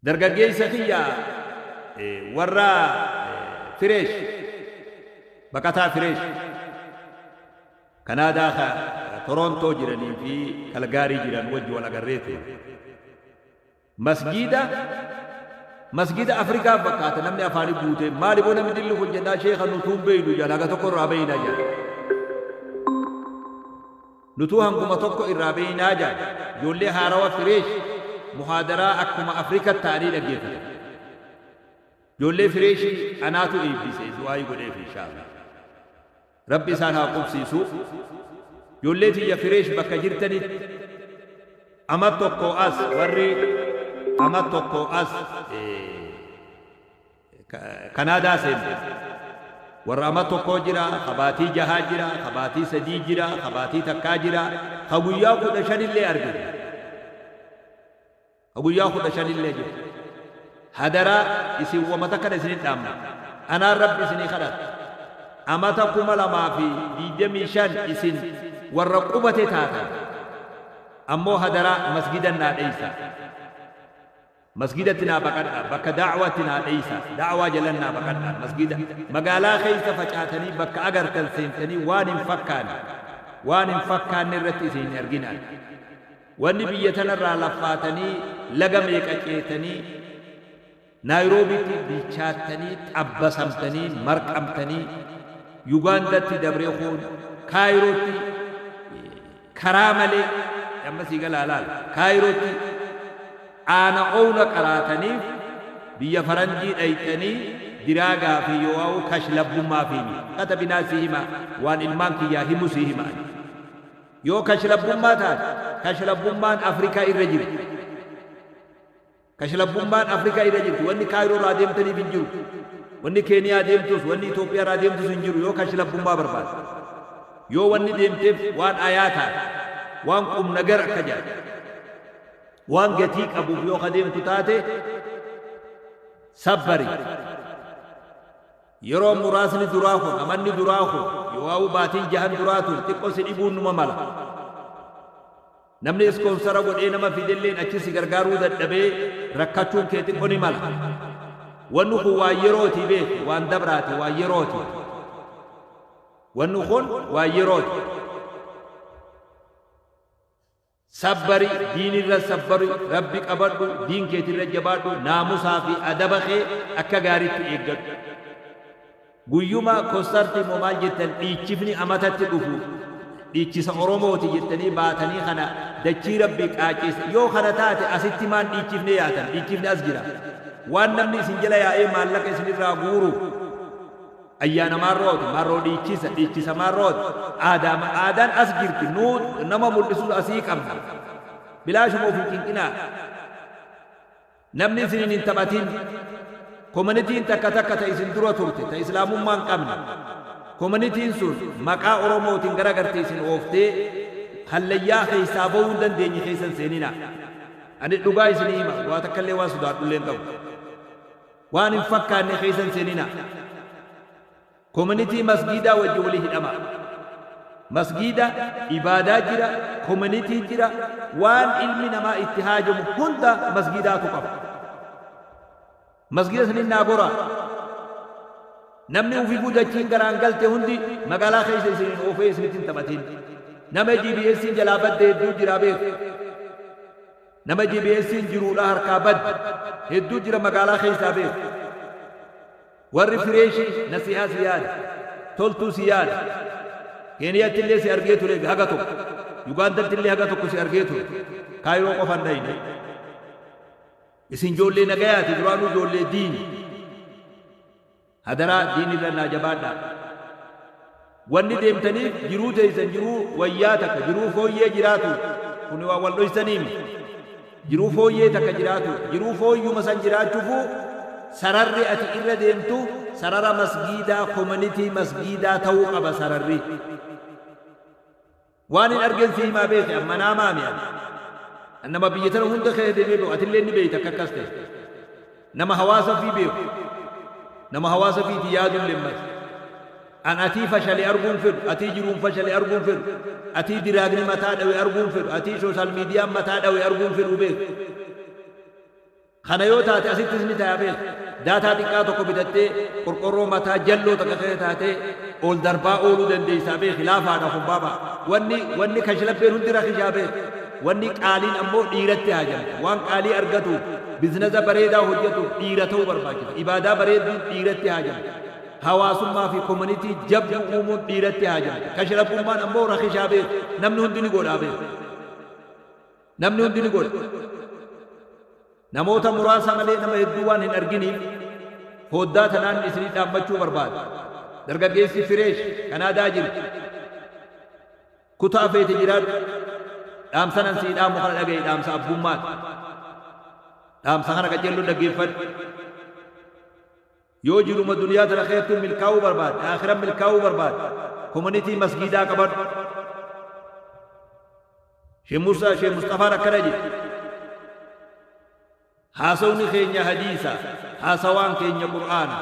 Dargaggeessa kiyya warra Fireesh, baqataa Fireesh, Kanaadaa ka Toroontoo jiranii fi Kalgaarii jiran wajji wal agarree turre. Masgiida, masgiida Afrikaa fakkaata namni afaanii guutee, maali boo namni dilli kun jennaan, sheekha nutuu hin beeynu jedhan, haga tokko irraa beeyna jedhan. Nutuu hanguma tokko irraa beeynaa jaan. Ijoollee haarawa fresh muhaadaraa akkuma Africa ta'anii dhaggeeffatan. Ijoollee fresh anaatu eebbise du'aayi godheef inshaa'allaah. Rabbi isaan haa qubsiisu. Ijoollee tiyya fresh bakka jirtanitti Amat tokkoo as warri Amat tokkoo as. Kanaadaa seente. Warra ama tokkoo jira, ka baatii jahaa jira, ka baatii sadii jira, ka baatii takkaa jira, ka guyyaa 15 illee arge jira. Ka guyyaa 15 illee jira. Hadaraa isin wama takkana isin hin dhaammadha. Anaan Rabbi isinii kadhadha. Amata 2025 isin warra qubate taatan. Ammoo hadaraa masgidan naa dheeysaa. Masgiidatti naa baqadhaa, bakka da'waatti naa dheeysaa, da'waa jalan naa baqadhaa, masgiida, magaalaa keeysa facaatanii bakka agartan seentanii waan hin fakkaane, waan hin fakkaanne irratti isin hin arginaa. Wanni biyya tanarraa laffaatanii laga meeqa ceetanii Naayiroobiitti bilchaattanii, xabbasamtanii, marqamtanii, Yugaandatti dabree kuun Kaayirootti Karaa malee, amma sii galaa laal, Kaayirootti aana owla qaraataniif biyya faranjii dhayxanii diraagaa fi yooauu kashlabbummaa fi mi qata binaa sii himaa waan ilmaan kiyyaa himu sii hima ani. Yoo kashlabbummaa taate kashlabbummaan Afrikaa irra jirti. Kashlabbummaan Afrikaa irra jirti. Wanni Kaayiroo irraa deemtaniif hin jiru. Wanni Keeniyaa deemtus, wanni Itoophiyaa irraa deemtus hin jiru yoo kashlabbummaa barbaadde. Yoo wanni deemteef waan ayaa taate, waan qumnagar akka jedhan, waan gatii qabuuf yoo ka deemtu taate, sabbari. Yeroo muraasni duraa kun, amanni duraa kun, yoowaawuu baatiin jahan duraa tun xiqqoo si dhibuun numa mala. Namni ispoonsara godhee nama fidelleen achi si gargaaruu dadhabee rakkachuun kee xiqqo ni mala. Wanni kun waan yerooti beeki, waan dabraati, waan yerooti. Wanni kun waan yerooti. Sabbari, diinirra sabbari, Rabbi qabadhu, diin keetirra jabaadhu, naamusaa fi adaba kee akka gaariitti eeggadhu. Guyyuma kostarti immoo maal jettan dhiichifni amatatti dhufu dhiichisa oromooti jettanii baatanii kana dachii rabbii qaaceessa yoo kana taate asitti maan dhiichifne yaatan dhiichifni as jira waan namni isin jala yaa'ee maallaqa isin irraa guuru ayyaana maarrooti maarroo dhiichisa dhiichisa maarrooti aadaa aadaan as jirti nuu nama mul'isuus asii qabna bilaashuma ofii cinqinaa Namni isiniin hin taphatiin. Komanitiin takka takka ta isin dura turte ta islaamummaa hin qabne. Komanitiin sun maqaa Oromootiin gara gartee isin ooftee hallayyaa keessaa bahuu hin dandeenye keessa hin seeninaa. Ani dhugaa isinii hima waa takkallee waan sodaadhullee hin qabu. Waan hin fakkaanne keessa hin seeninaa. Community masgiidaa wajjin wali hidhamaa. Masgiida, ibaadaa jira, community jira, waan ilmi namaa itti haajamu hunda masgiidaatu qaba. Masgiida saniin naa goraa. Namni ufifuu dachiin garaan galte hundi magaalaa keessa isin hin oofee isinitti hin taphatiin. Nama GBSiin jalaa badde hedduu jira beeku. Nama GBSiin jiruudha harkaa badde hedduu jira magaalaa keessaa beeku. Warri fireeshi nasihaa si yaada. Toltuu si yaada. Keeniyattillee si argee ture haga tokko. Yugaandattillee haga tokko si argee ture. Kaayiroo qofa hin dhayne. Isin joollee nagayaati duraanuu joollee diini. Hadaraa diinirra naa jabaadhaa. Wanni deemtaniif jiruu teeysan jiruu wayyaa takka, jiruu fooyyee jiraatuuf. Kuni waan wal dhoysanii miti. Jiruu fooyyee takka jiraatuuf. Jiruu fooyyuma san jiraachufuu sararri ati irra deemtu sarara masgiidaa, komanitii masgiidaa ta'uu qaba sararri. Waanin argen si himaa beeki an manaa maami an an nama biyya tana hunda keessa demee beeku atilleen ni beeyta akka akkas ta'e nama hawaasa fii beeku nama hawaasa fiiti yaadu illeen mati an atii fashale arguu hin fedhu atii jiruun fashale arguu hin fedhu atii diraagni mataa dhawe arguu hin fedhu atii shooshaal miidiyaan mataa dhawe arguu hin fedhuu beeki. Kana yoo taate asittis ni taya beeki. Daataa xiqqaa tokko bitattee qorqorroo mataa jalloo takka keessa taatee ol darbaa ooluu dandeessaa beeki laafaadha kun baaba. Wanni wanni kashlabbeen hundi rakishaa beeki. Wanni qaaliin ammoo dhiiratti haajamti. Waan qaalii argatuuf biznaza bareedaa hojjatuuf dhiira ta'uu barbaachisa. Ibaadaa bareedduun dhiiratti haajamti. Hawaasummaa fi community jabduu uumuun dhiiratti haajamti. Kashlabbummaan ammoo rakishaa beeki. Namni hundi ni godhaa beeki. Namni hundi ni godha. Namoota muraasa malee nama hedduu waan hin arginiif fooddaa tanaan isinii dhaammachuu barbaada. Dargaggeessi Fireesh Kanaadaa jirtu, Kutaa feete jiraadhu, dhaamsan an sii dhaamu kana dhaga'i dhaamsa abbummaati. Dhaamsa kana qaceelloo dhaggeeffadhu. Yoo jiruma duniyaa tana keettu milkaa'uu barbaadde, aakhiran milkaa'uu barbaadde, community masgiidaa qabadhu. Sheikh Musa, Sheikh Musxafaan akkana jedhe, Haasawni keenya hadiisa, haasawaan keenya Qur'aana,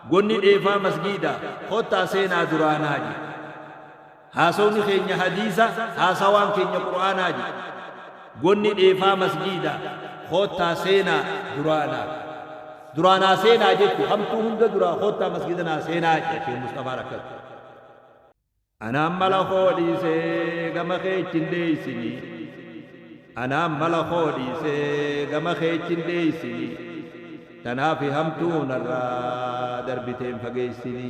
gonni dheefaa masgiida, kottaa seenaa duraanaa jedhe. Haasawni keenya hadiisa, haasawaan keenya qur'aanaa ji. Gonni dheefaa masjiida, koottaa seenaa duraa na. Duraa naa seenaa jechu hamtuu hunda duraa koottaa masgiida naa seenaa je Sheikh Musxafaan akkas. Anaan mala koo dhiisee gama kee itti hin dheeysini Anaan mala koo dhiisee gama kee itti hin dheeysini Tanaafi hamtuu narraa darbiteen fageeysini.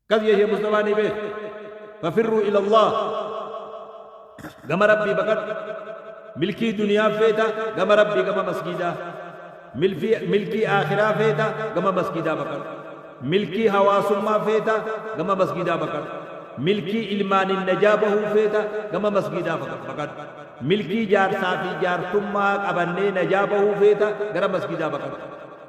Kas yahya musxafaa ni beektu fafirruu ilallah gama rabbii baqadhu milkii duniyaa feeta gama rabbii gama masgiidaa milfii milkii aakhiraa feeta gama masgiidaa baqadhu milkii hawaasummaa feeta gama masgiidaa baqadhu milkii ilmaanin najaa bahuu feeta gama masgiidaa faqa- baqadhu milkii jaarsaa fi jaartummaa qabannee najaa bahuu feeta gara masgiidaa baqadhu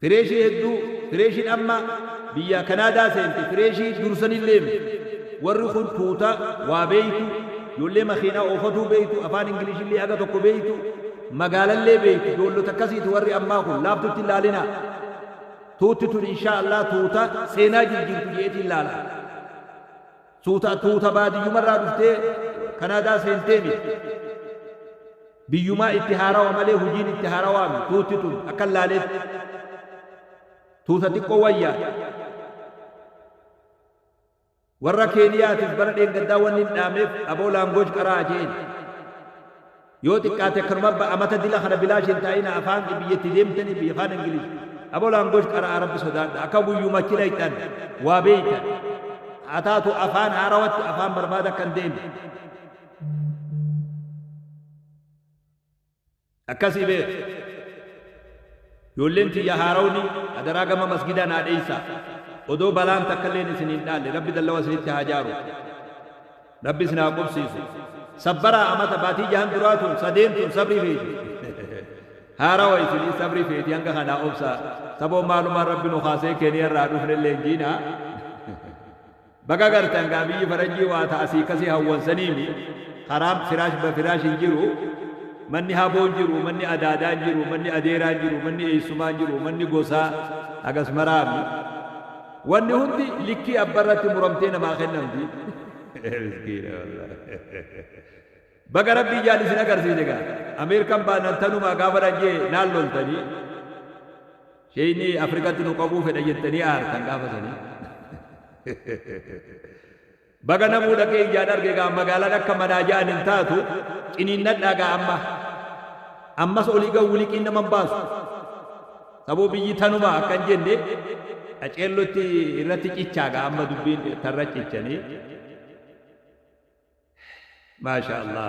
Fireeshii hedduu Fireeshiin amma biyyaa Kanaadaa seente Fireeshii dursanilleem warri kun tuuta waa beeytu ijoollee makiinaa oofatuu beeytu afaan Inglishillee haga tokko beeytu magaalallee beeytu ijoollota akkasiiti warri ammaa kun laaftutti hin laalinaa tuutti tun inshaa allaah tuuta seenaa jirjiirtu je'eetiin laala. Suutaan tuuta baadiyyumarraa dhuftee Kanaadaa seentee miti. Biyyumaa itti haarawa malee hujiin itti haarawaa miti. Tuutti tun akkan laaleetti tuuta xiqqoo wayyaadha. Warra Keeniyaatiif bara dheengaddaa wanni hin dhaamneef aboo language qaraa je'een. Yoo xiqqaate akkanuma ba, a mata dila kana bilaash hin ta, ina afaan biyya itti deemtani biyya kaan english abo language qara, a rabbi sodaadha akka guyyuma achi dhayxan waa beeytan haa taatu afaan haarawatti afaan barbaada akka hin deemne akkasi bee ijoolleen tiyya haarawni adaraa gama masgidaa naa dheeysa odoo balaan takka illeen isin hin dhaalle rabbi dallawa isinitti haa jaaru Rabbi isin haa qubsiisu. Sabbaraa amata baatii jahan duraa tun sadeen tun sabrii feeti. Haarawa isiniis sabrii feeti hanga kanaa obsa saboo maalumaan rabbi nu kaasee keniya irraa dhufnellee hin jiina. Baga gartan gaa biyyi farajjii waa ta asii kasii hawwan saniimi karaan firaash ba firaash hin jiru manni haboo hin jiru manni adaadaa hin jiru manni adeeraa hin jiru manni eessumaa hin jiru manni gosaa hagas maraami. Wanni hundi likkii abba irratti muramtee namaa kennamti. Miskiina wallahi. Baga rabbi ijaan isin agarsiise gaa. Ameerikan baanaan tanumaa gaafa nan jee naan loltanii. Sheeyni Afrikatti nu qabuu fedha jettanii aartan gaafa sanii. Baga namuu dhaqee ijaan arge gaa magaalaan akka manaa ja'an hin taatu ciniinnadhaa gaa amma ammas olii gad wiliqiin nama hin baasu saboo biyyi tanuma akka hin jenne qaceellotti irratti cichaa gaa amma dubbiin tarra cichanii maasha allah